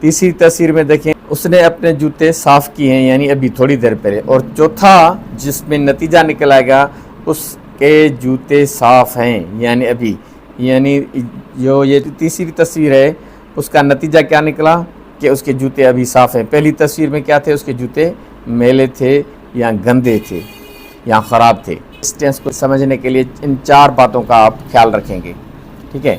تيسري تاثير ۾ ديکين. اس ني اپني جوتے صاف ڪي هين يعني ابهي ٿوري دير پهري اور چوٿا جس ۾ نتيجا نڪل آئي گا اس ڪي جوتي صاف هين يعني ابهي يعني جو يه تيسري تصوير هي اس ڪا نتيجا ڪيا نڪلا ڪي اس ڪي جوتي ابهي صاف هين پهلي تصوير ۾ ڪيا ٿي اس ڪي جوتي ميلي ٿي يا گندي ٿي يا خراب ٿي. اس ٽينس ڪو سمجهني ڪي ليي ان چار باتون ڪا آپ خيال رکينگي ٺيڪ هي.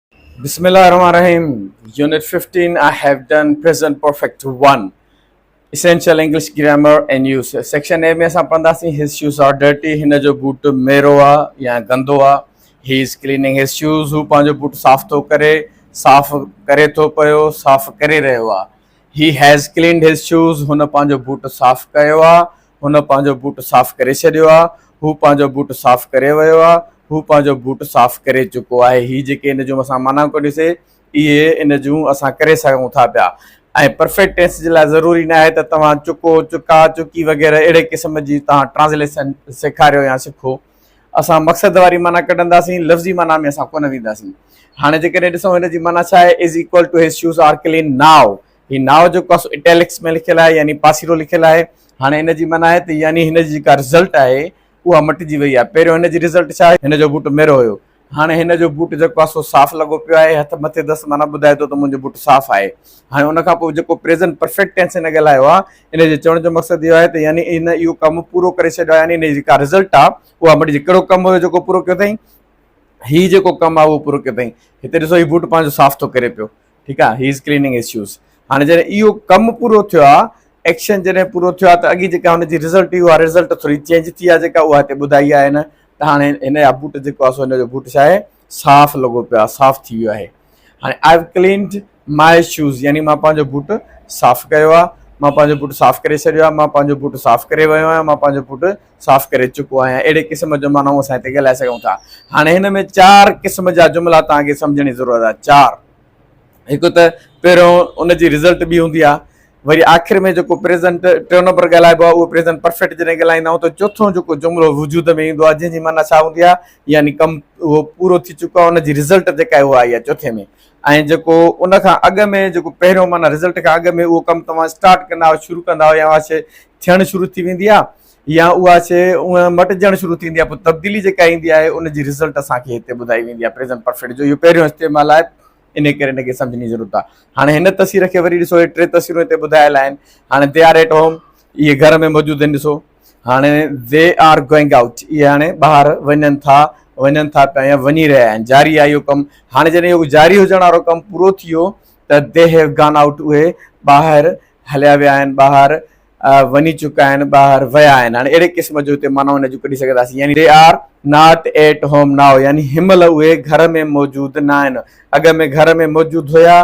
بسم الله الرحمن الرحيم unit 15 I have done present perfect 1 essential English grammar and use section A ۾ اسان پڙهنداسين هز شوز آر ڊرٽي هن جو بوٽ ميرو آ يا گندو آ he is cleaning his shoes هو پنهنجو بوٽ صاف ٿو ڪري صاف ڪري ٿو پيو صاف ڪري رهيو آ he has cleaned his shoes هن پنهنجو بوٽ صاف ڪيو آ هن پنهنجو بوٽ صاف ڪري ڇڏيو آ، هو پنهنجو بوٽ صاف ڪري ويو آ، هو پنهنجو بوٽ صاف ڪري چڪو آهي. هي جيڪي ان جون اسان معنائون ڪڍيون سي، اهي ان جون اسان ڪري سگهون ٿا پيا ۽ پرفيڪٽ ٽينس جي لاء ضروري ناهي ته توهان چڪو، چڪا، چڪي وغيره اهڙي قسم جي توهان ٽرانسليشن سيکاريو يا سکو. اسان مقصد واري معنيٰ ڪڍنداسين، لفظي معنيٰ ۾ اسان ڪونه وينداسين. هاڻي جيڪڏهن ڏسون هن جي معنيٰ ڇا آهي، is equal to his shoes are clean now, he now جو ڪس اٽيلڪس ۾ لکيل آهي يعني پاسيرو لکيل آهي هاڻي ان جي معنيٰ آهي ته يعني هن جي جيڪا رزلٽ آهي اها مٽجي وئي آهي پهريون هن جي رزلٽ ڇا هئي هن جو بوٽ ميرو هيو هاڻي هن جو بوٽ جيڪو آهي سو صاف لڳو پيو آهي هٿ مٿي دس معنيٰ ٻڌائي ٿو ته منهنجو بوٽ صاف آهي هاڻي ان کان پوء جيڪو پريزنٽ پرفيڪٽ ٽينس هن ڳالهايو آهي ان جي چوڻ جو مقصد اهو آهي ته يعني هن اهو ڪم پورو ڪري ڇڏيو آهي يعني هن جي جيڪا رزلٽ آهي اها مٽجي ڪهڙو ڪم هيو جيڪو پورو ڪيو اٿئي هي جيڪو ڪم آهي اهو پورو ڪيو اٿئي هتي ڏسو هي بوٽ پنهنجو صاف ٿو ڪري پيو ٺيڪ آ هيز ڪليننگ اسيوز هاڻي جڏهن اهو ڪم پورو ٿيو آ ايڪشن جڏهن پورو ٿيو آ ته اڳي جيڪا هن جي رزلٽ هئي اها رزلٽ ٿوري چينج ٿي آ جيڪا اها هتي ٻڌائي آ هن ته هاڻي هن جا بوٽ جيڪو آ سو هن جو بوٽ ڇا آهي صاف لڳو پيو آ صاف ٿي ويو آهي هاڻي I have cleaned my shoes يعني مان پنهنجو بوٽ صاف ڪيو آ مان پنهنجو بوٽ صاف ڪري ڇڏيو آ مان پنهنجو بوٽ صاف ڪري ويو آهيان مان پنهنجو بوٽ صاف ڪري چڪو آهيان اهڙي قسم جو معنيٰ اسان هتي ڳالهائي سگهون ٿا هاڻي هن ۾ چار قسم جا جملا توهان کي سمجهڻ جي ضرورت آهي چار هڪ ته پهريون ان جي رزلٽ ٻي هوندي آهي وري آخر ۾ جيڪو پريزنٽ ٽيون نمبر ڳالهائبو آهي اهو پريزنٽ پرفيڪٽ جڏهن ڳالهائيندا آهيون ته چوٿون جيڪو جملو وجود ۾ ايندو آهي جنهن جي معنيٰ ڇا هوندي آهي يعني ڪم اهو پورو ٿي چڪو آهي ان جي رزلٽ جيڪا اهو آئي آهي چوٿين ۾ ۽ جيڪو ان کان اڳ ۾ جيڪو پهريون معنيٰ رزلٽ کان اڳ ۾ اهو ڪم توهان اسٽارٽ ڪندا آهيو شروع ڪندا آهيو يا ٿيڻ شروع ٿي ويندي آهي يا اها شيء اونهه مٽجڻ شروع ٿي ويندي آهي پوء تبديلي جيڪا ايندي آهي ان جي رزلٽ اسان کي هتي ٻڌائي ويندي آهي پريزنٽ پرفيڪٽ جو اهو پهريون استعمال آهي انهي ڪري ان کي سمجهڻ جي ضرورت آهي هاڻي هن تصوير کي وري ڏسو هي ٽي تصويرون هتي ٻڌايل آهن هاڻي دي آر ايٽ هوم اهي گهر ۾ موجود آهن ڏسو هاڻي دي آر گوئنگ آئوٽ اهي هاڻي ٻاهر وڃن ٿا وڃن ٿا پيا يا وڃي رهيا آهن جاري آهي اهو ڪم هاڻي جڏهن اهو جاري هجڻ وارو ڪم پورو ٿي ويو ته دي هيو گان آئوٽ اهي ٻاهر هليا ويا آهن ٻاهر وڃي چڪا آهن ٻاهر ويا آهن هاڻي اهڙي قسم جو هتي معنيٰ ان جون ڪڍي سگهنداسين يعني They are not at home now يعني هن مهل اهي گهر ۾ موجود ناهن اڳ ۾ گهر ۾ موجود هيا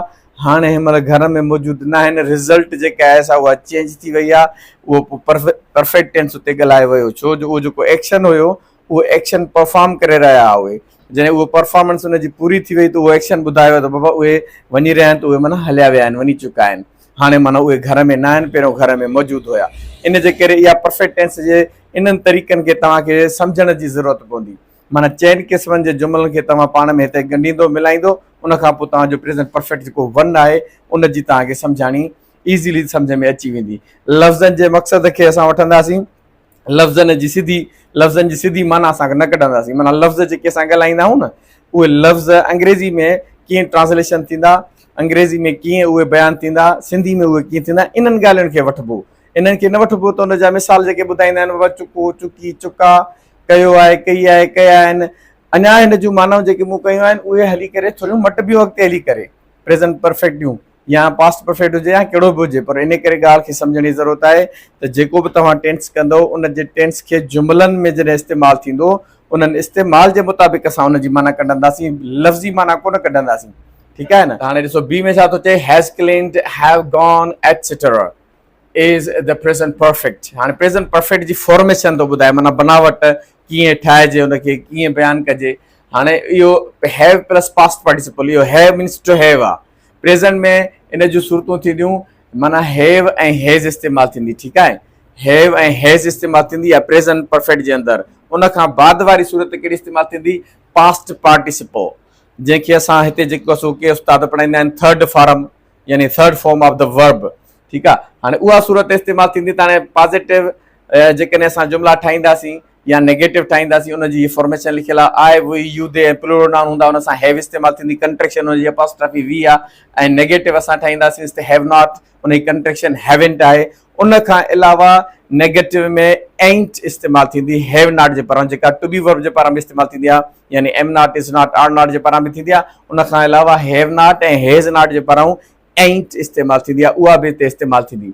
هاڻي هن مهل گهر ۾ موجود ناهن رزلٽ جيڪا آهي سا اها چينج ٿي وئي آهي اهو پرفيڪٽ ٽينس اتي ڳالهايو ويو ڇو جو اهو جيڪو ايڪشن هيو اهو ايڪشن پرفارم ڪري رهيا هئا اهي جڏهن اهو پرفارمنس ان جي پوري ٿي وئي ته اهو ايڪشن ٻڌايو ته بابا اهي وڃي رهيا آهن ته اهي معنيٰ هليا ويا آهن وڃي چڪا آهن هاڻي معنيٰ اهي گهر ۾ نه آهن پهريون گهر ۾ موجود هيا ان جي ڪري اها پرفيڪٽ ٽينس جي انهن طريقن کي توهان کي سمجهڻ جي ضرورت پوندي معنيٰ چئن قسمن جي جملن کي توهان پاڻ ۾ هتي ڳنڍيندو ملائيندو ان کان پوء توهان جو پريزنٽ پرفيڪٽ جيڪو ون آهي ان جي توهان کي سمجهاڻي ايزيلي سمجهه ۾ اچي ويندي لفظن جي مقصد کي اسان وٺنداسين لفظن جي سڌي لفظن جي سڌي معنيٰ اسان کي نه ڪڍنداسين معنيٰ لفظ جيڪي اسان ڳالهائيندا آهيون نه اهي لفظ انگريزي ۾ ڪيئن ٽرانسليشن ٿيندا انگريزي ۾ ڪيئن اهي بيان ٿيندا سنڌي ۾ اهي ڪيئن ٿيندا انهن ڳالهين کي وٺبو انهن کي نه وٺبو ته ان جا مثال جيڪي ٻڌائيندا آهن بابا چڪو چڪي چڪا ڪيو آهي ڪئي آهي ڪيا آهن اڃا هن جون معنائون جيڪي مون ڪيون آهن اهي هلي ڪري ٿوريون مٽبيون اڳتي هلي ڪري پريزنٽ پرفيڪٽ ڏيون يا پاسٽ پرفيڪٽ هجي يا ڪهڙو به هجي پر ان ڪري ڳالهه کي سمجهڻ جي ضرورت آهي ته جيڪو به توهان ٽينس ڪندؤ ان جي ٽينس کي جملن ۾ جڏهن استعمال ٿيندو انهن استعمال جي مطابق اسان ان جي معنيٰ ڪڍنداسين لفظي معنيٰ ڪونه ڪڍنداسين ٺيڪ آهي نه هاڻي ڏسو بي ۾ ڇا ٿو چئي has cleaned have gone etcetera is the present perfect هاڻي پريزنٽ پرفيڪٽ جي فارميشن ٿو ٻڌائي معنيٰ بناوٽ ڪيئن ٺاهجي ان کي ڪيئن بيان ڪجي هاڻي اهو هيو پلس پاسٽ پارٽيسپل اهو هيو مينس ٽو هيو آهي پريزنٽ ۾ ان جون صورتون ٿينديون معنيٰ هيو ۽ هيز استعمال ٿيندي ٺيڪ آهي هيو ۽ هيز استعمال ٿيندي يا پريزنٽ پرفيڪٽ جي اندر ان کان بعد واري صورت ڪهڙي استعمال ٿيندي پاسٽ پارٽيسپو جنهن کي اسان هتي جيڪو سو ڪي استاد پڙهائيندا آهن ٿرڊ فارم يعني third form of the verb ٺيڪ آهي هاڻي اها صورت استعمال ٿيندي ته هاڻي پازيٽو جيڪڏهن اسان جملا ٺاهينداسين يا نيگيٽو ٺاهينداسين ان جي هي فارميشن لکيل آ I we you they ۽ plural noun هوندا ان سان هيو استعمال ٿيندي ڪنٽريڪشن ان جي اپاسٽرافي وي آ ۽ نيگيٽو اسان ٺاهينداسين ته هيو ناٽ ان جي ڪنٽريڪشن هيونٽ آهي ان کان علاوه نيگيٽو ۾ اينٽ استعمال ٿيندي هيو ناٽ جي پاران جيڪا ٽو بي ورب جي پاران به استعمال ٿيندي آ يعني am not is not are not جي پاران به ٿيندي آ ان کان علاوه هيو ناٽ ۽ هيز ناٽ جي پاران اينٽ استعمال ٿيندي آ اها به هتي استعمال ٿيندي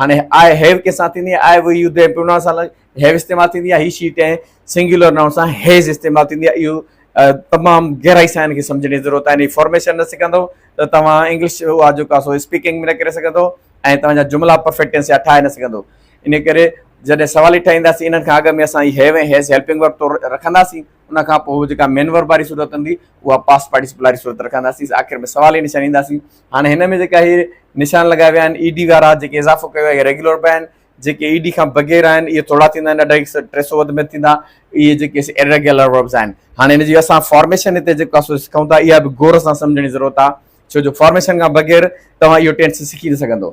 هاڻي آء هيو ڪنهن سان ٿيندي آهي، I we you them pronoun سان هيو استعمال ٿيندي آهي، هي شي ٽين سنگيولر نائون سان هيز استعمال ٿيندي آهي، اهو تمام گهرائي سان ان کي سمجهڻ جي ضرورت آهي، ان جي فارميشن نه سکندو ته توهان انگلش اها جيڪا سو اسپيڪنگ به نه ڪري سگهندو ۽ توهان جا جملا پرفيڪٽ ٽينس جا ٺاهي نه سگهندو، ان ڪري جڏهن سوالي ٺاهينداسين انهن کان اڳ ۾ اسان هي هيو ۽ هيز هيلپنگ ورب طور رکنداسين، ان کان پوء جيڪا مين ورب واري صورت هوندي اها پاسٽ پارٽيسپل واري صورت رکنداسين، آخر ۾ سوالي نشاني اينداسين. هاڻي هن ۾ جيڪا هي نشان لڳايا ويا آهن اي ڊي وارا جيڪي اضافو ڪيو آهي اهي ريگيولر به آهن جيڪي اي ڊي کان بغير آهن اهي ٿورا ٿيندا آهن اڍائي سو ٽي سو وڌ مٿ ٿيندا اهي جيڪي اريگيولر وربس آهن هاڻي هن جي اسان فارميشن هتي جيڪو سو سکون ٿا اها به غور سان سمجھڻ جي ضرورت آهي ڇو جو فارميشن کان بغير توهان اهو ٽينس سکي نه سگھندو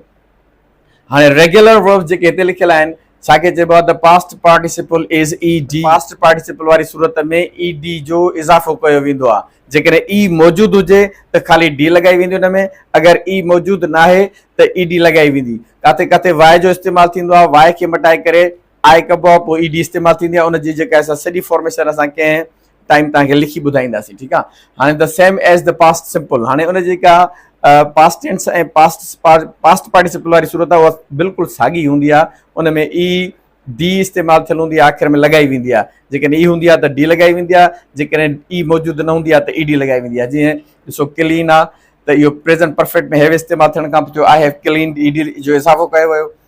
هاڻي ريگيولر وربس جيڪي هتي لکيل آهن، ڇا کي چئبو آهي ته past participle is E D. Past participle واري صورت ۾ اي ڊي جو اضافو ڪيو ويندو آهي. جيڪڏهن اي موجود هجي ته خالي ڊي لڳائي ويندي ان ۾ اگر اي موجود ناهي ته اي ڊي لڳائي ويندي. ڪاٿي ڪاٿي واء جو استعمال ٿيندو آهي، واء کي مٽائي ڪري آء ڪبو آهي، پوء اي ڊي استعمال ٿيندي آهي. ان جي جيڪا سا سڄي فارميشن اسان ڪنهن ٽائيم توهان کي لکي ٻڌائينداسين ٺيڪ آ هاڻي ته سيم ايز ته پاسٽ سمپل هاڻي ان جي ڪا past tense ۽ past past participle واري صورت آ اها بلڪل ساڳي هوندي آ ان ۾ اي ڊي استعمال ٿيل هوندي آ آخر ۾ لڳائي ويندي آ جيڪڏهن اي هوندي آ ته ڊي لڳائي ويندي آ جيڪڏهن اي موجود نه هوندي آ ته اي ڊي لڳائي ويندي آ جيئن ڏسو ڪلين آ ته اهو پريزنٽ پرفيڪٽ ۾ هيو استعمال ٿيڻ کان پوء I have cleaned E D جو اضافو ڪيو ويو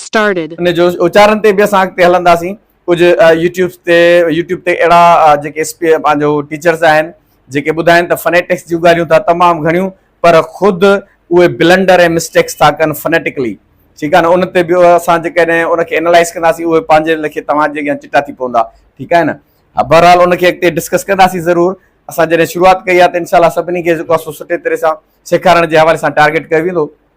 Started. ان جو اچارن تي به اسان اڳتي هلنداسين ڪجهه يوٽيوبس تي يوٽيوب تي اهڙا جيڪي پنهنجو ٽيچرس آهن جيڪي ٻڌائن ته فنيٽڪس جون ڳالهيون ٿا تمام گهڻيون پر خود اهي بلنڊر ۽ مسٽيڪس ٿا ڪن فنيٽڪلي ٺيڪ آهي نه ان تي به اسان جيڪڏهن ان کي انالائز ڪنداسين اهي پنهنجي لکي توهان جي اڳيان چٽا ٿي پوندا ٺيڪ آهي نه ها بهرحال ان کي اڳتي ڊسڪس ڪنداسين ضرور اسان جڏهن شروعات ڪئي آهي ته انشاء الله سڀني کي جيڪو سٺي طرح سان سيکارڻ جي حوالي سان ٽارگيٽ ڪيو ويندو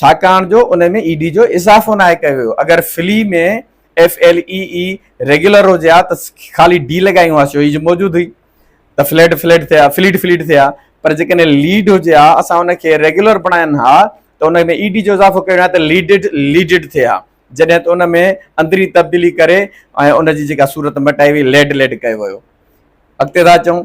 ڇاڪاڻ جو ان ۾ اي ڊي جو اضافو ناهي ڪيو ويو اگر flee ۾ F L E E regular هجي ها ته خالي ڊي لڳائي هئا شو جي موجود هئي ته فليٽ فليٽ ٿيا فليٽ فليٽ ٿيا پر جيڪڏهن ليڊ هجي ها اسان ان کي ريگيولر بڻائن ها ته ان ۾ اي ڊي جو اضافو ڪيو ويو ته ليڊڊ ليڊڊ ٿئي ها جڏهن ته ان ۾ اندري تبديلي ڪري ۽ ان جي جيڪا صورت مٽائي وئي ليڊ ليڊ ڪيو ويو اڳتي ٿا چون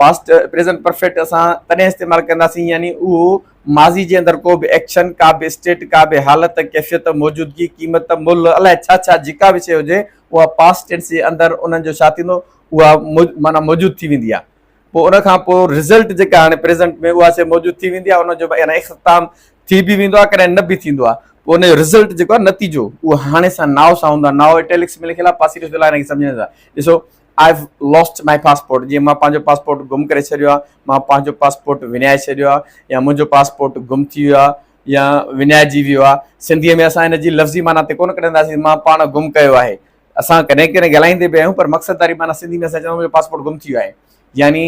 پاسٽ پريزنٽ پرفيڪٽ اسان تڏهن استعمال ڪنداسين يعني اهو ماضي جي اندر ڪو به ايڪشن، ڪا به اسٽيٽ، ڪا به حالت، ڪيفيت، موجودگي، قيمت، ملهه، الاء ڇا ڇا جيڪا به شيء هجي اها پاسٽ ٽينس جي اندر انهن جو ڇا ٿيندو اها معنيٰ موجود ٿي ويندي آهي پوء ان کان پوء رزلٽ جيڪا هاڻي پريزنٽ ۾ اها شيء موجود ٿي ويندي آهي ان جو يعني اختتام ٿي به ويندو آهي ڪڏهن نه به ٿيندو آهي پوء ان جو رزلٽ جيڪو آهي نتيجو اهو هاڻي سان ناء سان هوندو آهي ناء اٽيلڪس ۾ لکيل آهي پاسيو فعل آهي ان کي سمجهڻ سان ڏسو I have lost my passport جيئن مان پنهنجو پاسپورٽ گم ڪري ڇڏيو آهي مان پنهنجو پاسپورٽ وڃائي ڇڏيو آهي يا منهنجو پاسپورٽ گم ٿي ويو آهي يا وڃائجي ويو آهي سنڌي ۾ اسان ان جي لفظي معنيٰ تي ڪونه ڪڍنداسين مان پاڻ گم ڪيو آهي اسان ڪڏهن ڪڏهن ڳالهائيندي به آهيون پر مقصد واري معنيٰ سنڌي ۾ اسان چونداسين منهنجو پاسپورٽ گم ٿي ويو آهي يعني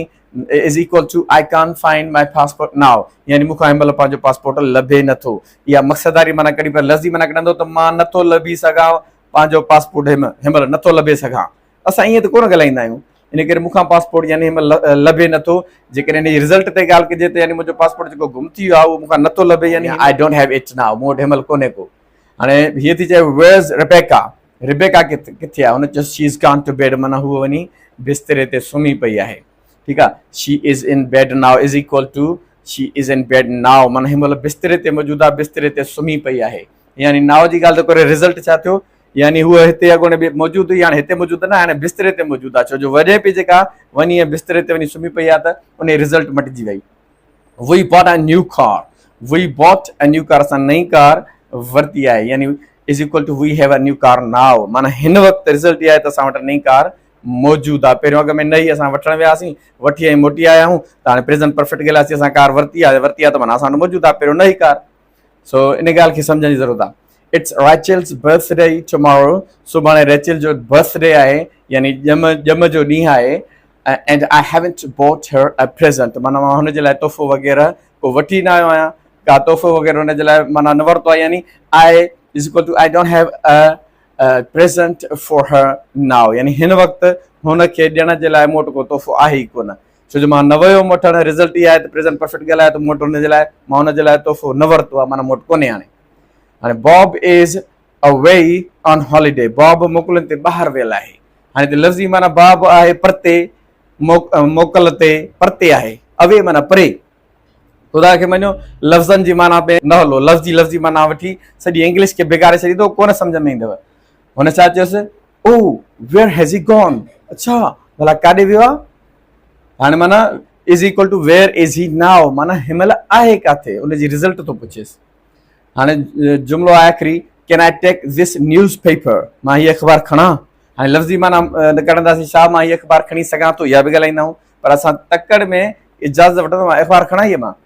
is equal to I can't find my passport now يعني مون کان هن مهل پنهنجو پاسپورٽ لڀي نٿو اها مقصد واري معنيٰ ڪڍي پر لفظي معنيٰ ڪڍندو ته مان نٿو لڀي سگهان پنهنجو پاسپورٽ هن مهل نٿو لڀي سگهان اسان ائين ته ڪونه ڳالهائيندا آهيون، ان ڪري مون کان پاسپورٽ يعني هن مهل لڀي نه ٿو. جيڪڏهن ان جي رزلٽ تي ڳالهه ڪجي ته يعني منهنجو پاسپورٽ جيڪو گم ٿي ويو آهي اهو مون کان نه ٿو لڀي يعني I don't have it now مون وٽ هن مهل ڪونهي ڪو. هاڻي هيء ٿي چوي Where's Rebecca؟ ربيڪا ڪٿي آهي؟ هن چيس She's gone to bed معنيٰ هوء وڃي بستري تي سمهي پئي آهي. ٺيڪ آهي. She is in bed now is equal to She is in bed now معنيٰ هن مهل بستري تي موجود آهي، بستري تي سمهي پئي آهي. يعني now جي ڳالهه ته ڪوري رزلٽ ڇا ٿيو؟ يعني هوء هتي اڳوڻي به موجود هئي، هاڻي هتي موجود نه آهي، هاڻي بستري تي موجود آهي، ڇو جو وڃي پئي جيڪا وڃي ائين بستري تي وڃي سمهي پئي آهي ته انهيء رزلٽ مٽجي وئي. We bought a new car, we bought a new car, اسان نئين ڪار ورتي آهي، يعني is equal to we have a new car now, معنيٰ هن وقت رزلٽ اها آهي ته اسان وٽ نئين ڪار موجود آهي، پهريون اڳ ۾ نه هئي، اسان وٺڻ وياسين، وٺي ۽ موٽي آيا آهيون، ته هاڻي پريزنٽ پرفيڪٽ ڳالهياسين، اسان ڪار ورتي آهي، ورتي آهي ته معنيٰ اسان وٽ موجود آهي، پهريون نه هئي ڪار. سو ان ڳالهه کي سمجهڻ جي ضرورت آهي it's Rachel's birthday tomorrow سڀاڻي ريچل جو برٿ ڊي آهي يعني ڄم ڄم جو ڏينهن آهي and I haven't bought her a present مانا مان هن جي لاء تحفو وغيره کو وٺي نه آيو آهيان کا تحفو وغيره هن جي لاء مانا نه ورتو آهي يعني I is equal to I don't have a present for her now يعني هن وقت هن کي ڏيڻ جي لاء مون وٽ کو تحفو آهي ئي ڪونه ڇو جو مان نه ويو هوم وٺڻ، رزلٽ هي آهي ته پريزنٽ پرفيڪٽ ڳالهايو ته مون وٽ ان جي لاء مان ان جي لاء تحفو نه ورتو آهي معنيٰ مون وٽ ڪونهي هاڻي. هاڻي باب از اوي آن هاليڊي باب موڪلن تي ٻاهر ويل آهي. هاڻي هتي لفظي معنيٰ باب آهي پرتي، موڪل تي پرتي آهي، اوي معنيٰ پري. خدا کي مڃو لفظن جي معنيٰ ۾ نه هلو، لفظي لفظي معنيٰ وٺي سڄي انگلش کي بگاڙي ڇڏيندو ڪونه سمجهه ۾ ايندو. هن ڇا چيس، oh where has he gone, اڇا ڀلا ڪاڏي ويو آهي؟ هاڻي معنيٰ is equal to where is he now معنيٰ هن مهل آهي ڪاٿي ان جي رزلٽ ٿو پڇيس. هاڻي جملو آهي آخري can I take this newspaper مان هي اخبار کڻان؟ هاڻي لفظي معنيٰ ڪڍنداسين ڇا مان هي اخبار کڻي سگهان ٿو اها به ڳالهائيندا آهيون پر اسان تڪڙ ۾ اجازت وٺندو مان اخبار کڻان هي مان؟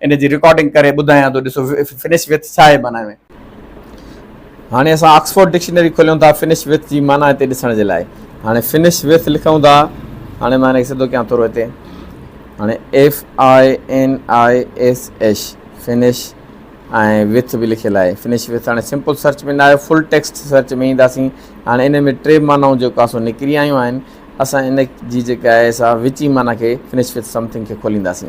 ان جي رڪارڊنگ ڪري ٻڌايان ٿو ڏسو Finish with ڇا آهي معنيٰ ۾. هاڻي اسان آڪسفورڊ ڊڪشنري کوليون ٿا Finish with جي معنيٰ هتي ڏسڻ جي لاء. هاڻي Finish with لکون ٿا. هاڻي مان ان کي سڌو ڪيان ٿورو هتي. هاڻي FINISH Finish ۽ وٿ به لکيل آهي فنش وٿ هاڻي سمپل سرچ ۾ نه آيو فل ٽيڪسٽ سرچ ۾ اينداسين هاڻي ان ۾ ٽي معنائون جيڪو آسو نڪري آيون آهن اسان ان جي جيڪا آهي سا وچي معنيٰ کي فنش وٿ سمٿنگ کي کولينداسين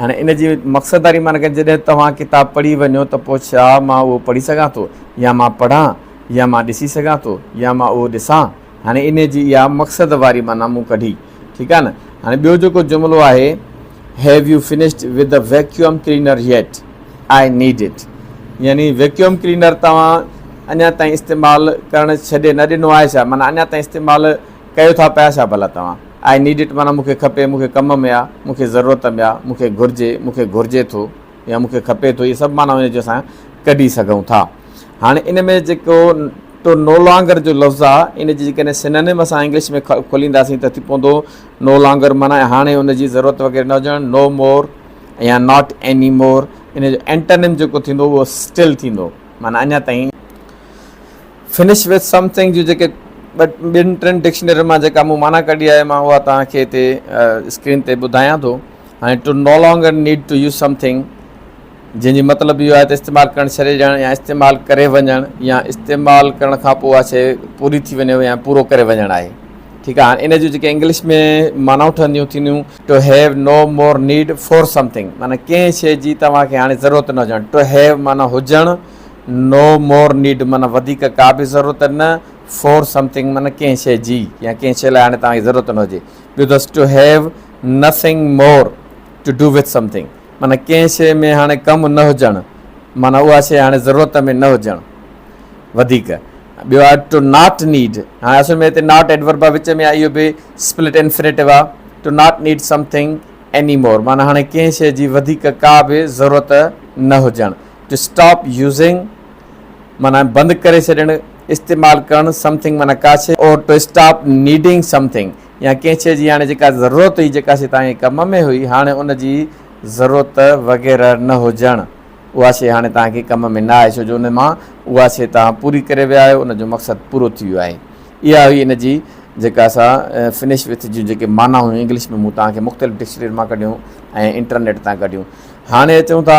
هاڻي ان جي مقصد واري معنيٰ ڪنهن جڏهن توهان ڪتاب پڙهي وڃو ته پوء ڇا مان اهو پڙهي سگهان ٿو يا مان پڙهان يا مان ڏسي سگهان ٿو يا مان اهو ڏسان هاڻي انهي جي اها مقصد واري معنيٰ مون ڪڍي ٺيڪ آهي نه هاڻي ٻيو جيڪو جملو آهي have you finished with the vacuum cleaner yet I need it يعني ويڪيوم ڪلينر توهان اڃا تائين استعمال ڪرڻ ڇڏي نه ڏنو آهي ڇا معنيٰ اڃا تائين استعمال ڪيو ٿا پيا ڇا ڀلا توهان؟ آء نيڊ اٽ معنيٰ مون کي کپي، مون کي ڪم ۾ آ، مون کي ضرورت ۾ آ، مون کي گهرجي، مون کي گهرجي ٿو يا مون کي کپي ٿو اهي سڀ معنائون هن جون اسان ڪڍي سگهون ٿا. هاڻي ان ۾ جيڪو ٽو نو لانگر جو لفظ آ ان جي جيڪڏهن سنونيم اسان انگلش ۾ کولينداسين ته ٿي پوندو نو لانگر معنيٰ هاڻي ان جي ضرورت وغيره نه هجڻ نو مور يا ناٽ ايني مور ان جو اينٽانيم جيڪو ٿيندو اهو اسٽل ٿيندو معنيٰ اڃا تائين Finish with something جون جيڪي ٻن ٽن ڊڪشنرين مان جيڪا مون معنيٰ ڪڍي آهي مان اها توهان کي هتي اسڪرين تي ٻڌايان ٿو. هاڻي To no longer need to use something جنهن جي مطلب اهو آهي ته استعمال ڪرڻ ڇڏي ڏيڻ يا استعمال ڪري وڃڻ يا استعمال ڪرڻ کان پوء اها شيء پوري ٿي وڃي يا پورو ڪري وڃڻ آهي ٺيڪ آهي هاڻي ان جون جيڪي انگلش ۾ معنائون ٺهنديون ٿينديون To have no more need for something معنيٰ ڪنهن شيء جي توهان کي هاڻي ضرورت نه هجڻ To have معنيٰ هجڻ No more need معنيٰ وڌيڪ ڪا به ضرورت نه، for something معنيٰ ڪنهن شيء جي يا ڪنهن شيء لاء هاڻي توهان کي ضرورت نه هجي. ٻيو اٿس To have nothing more to do with something معنيٰ ڪنهن شيء ۾ هاڻي ڪم نه هجڻ معنيٰ اها شيء هاڻي ضرورت ۾ نه هجڻ وڌيڪ. ٻيو آهي To not need هاڻي اصل ۾ هتي Not Adverb آهي وچ ۾ آهي اهو به Split Infinitive آهي To not need something anymore معنيٰ هاڻي ڪنهن شيء جي وڌيڪ ڪا به ضرورت نه هجڻ. ٽو اسٽاپ يوزنگ معنيٰ بند ڪري ڇڏڻ، استعمال ڪرڻ، سمٿنگ معنيٰ ڪا شيء or to stop needing something يا ڪنهن شيء جي هاڻي جيڪا ضرورت هئي، جيڪا شيء توهان جي ڪم ۾ هئي هاڻي ان جي ضرورت وغيره نه هجڻ، اها شيء هاڻي توهان کي ڪم ۾ نه آهي ڇو جو ان مان اها شيء توهان پوري ڪري ويا آهيو، ان جو مقصد پورو ٿي ويو آهي. اها هئي ان جي جيڪا اسان Finish With جون جيڪي معنيٰ هيون انگلش ۾ مون توهان کي مختلف ڊڪشنرين مان ڪڍيون ۽ انٽرنيٽ تان ڪڍيون. هاڻي اچون ٿا.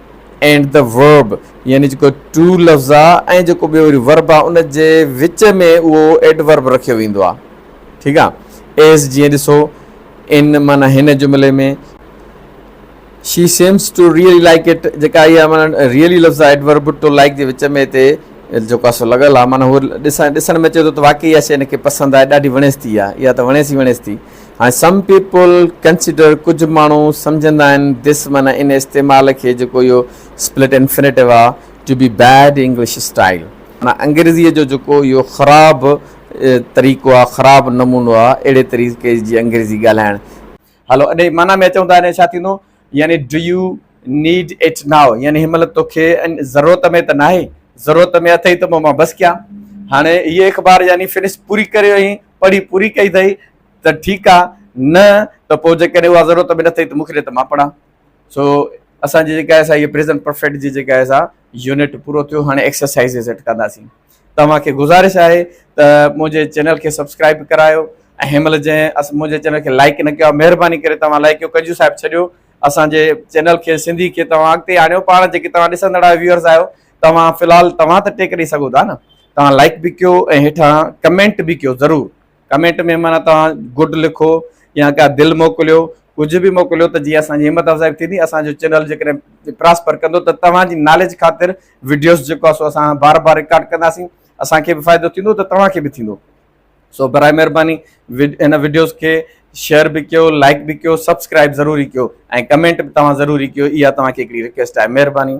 اينڊ دي ورب يعني جيڪو ٽو لفظ آ ۽ جيڪو ٻيو وري ورب آ ان جي وچ ۾ اهو ايڊورب رکيو ويندو آ ٺيڪ آ ايز جيئن ڏسو ان معنی هن جملي ۾ she seems to really like it جيڪا اها معنی ريئلي لفظ آ ايڊورب ٽو لائڪ جي وچ ۾ هتي جيڪو آ سو لڳل آ معنی هو ڏسڻ ڏسڻ ۾ چي ٿو ته واقعي اها شي ان کي پسند آهي ڏاڍي وڻيس ٿي اها اها ته وڻيس ئي وڻيس ٿي ۽ سم پيپل ڪنسيڊر ڪجهه ماڻهو سمجهندا آهن دس معنيٰ ان استعمال کي جيڪو اهو سپلٽ انفنيٽو آهي to be bad English style معنيٰ انگريزيء جو جيڪو اهو خراب طريقو آهي خراب نمونو آهي اهڙي طريقي جي انگريزي ڳالهائڻ هلو اڏي معنيٰ ۾ اچون ته هاڻي ڇا ٿيندو؟ يعني do you need it now يعني هن مهل توکي ضرورت ۾ ته ناهي، ضرورت ۾ اٿئي ته پوء مان بس ڪيان. هاڻي هيء اخبار يعني فنس پوري ڪري وئين، پڙهي پوري ڪئي اٿئي ته ٺيڪ آ، نه ته پوء جيڪڏهن اها ضرورت ۾ نه اٿئي ته مون کي ڏي ته مان پڙهان. سو اسان جي جيڪا آهي سا هيء پريزنٽ پرفيڪٽ جي جيڪا آهي سا يونٽ پورو ٿيو. هاڻي ايڪسرسائيزز اٽڪنداسين. توهان کي گذارش آهي ته منهنجي چينل کي سبسڪرائيب به ڪرايو ۽ هن مهل جنهن منهنجي چينل کي لائيڪ نه ڪيو آهي مهرباني ڪري توهان لائيڪ ڪيو ڪنجو صاحب ڇڏيو اسان جي چينل کي سنڌي کي توهان اڳتي آڻيو پاڻ جيڪي توهان ڏسندڙ آهيو ويورز آهيو توهان في الحال توهان ته ٽيڪ ڏئي سگهو ٿا نه توهان لائيڪ به ڪيو ۽ هيٺان ڪمينٽ به ڪيو ضرور ڪمينٽ ۾ معنيٰ توهان گڊ لکو يا ڪا دل موڪليو ڪجهه به موڪليو ته جيئن اسان جي همت افزائي ٿيندي اسان جو چينل جيڪڏهن پراسپر ڪندو ته توهان جي ناليج خاطر وڊيوز جيڪو آهي سو اسان بار بار رڪارڊ ڪنداسين اسان کي به فائدو ٿيندو ته توهان کي به ٿيندو سو برائي مهرباني هن وڊيوز کي شيئر به ڪيو لائڪ به ڪيو سبسڪرائب ضروري ڪيو ۽ ڪمينٽ به توهان ضروري ڪيو اها توهان کي هڪڙي رڪويسٽ آهي مهرباني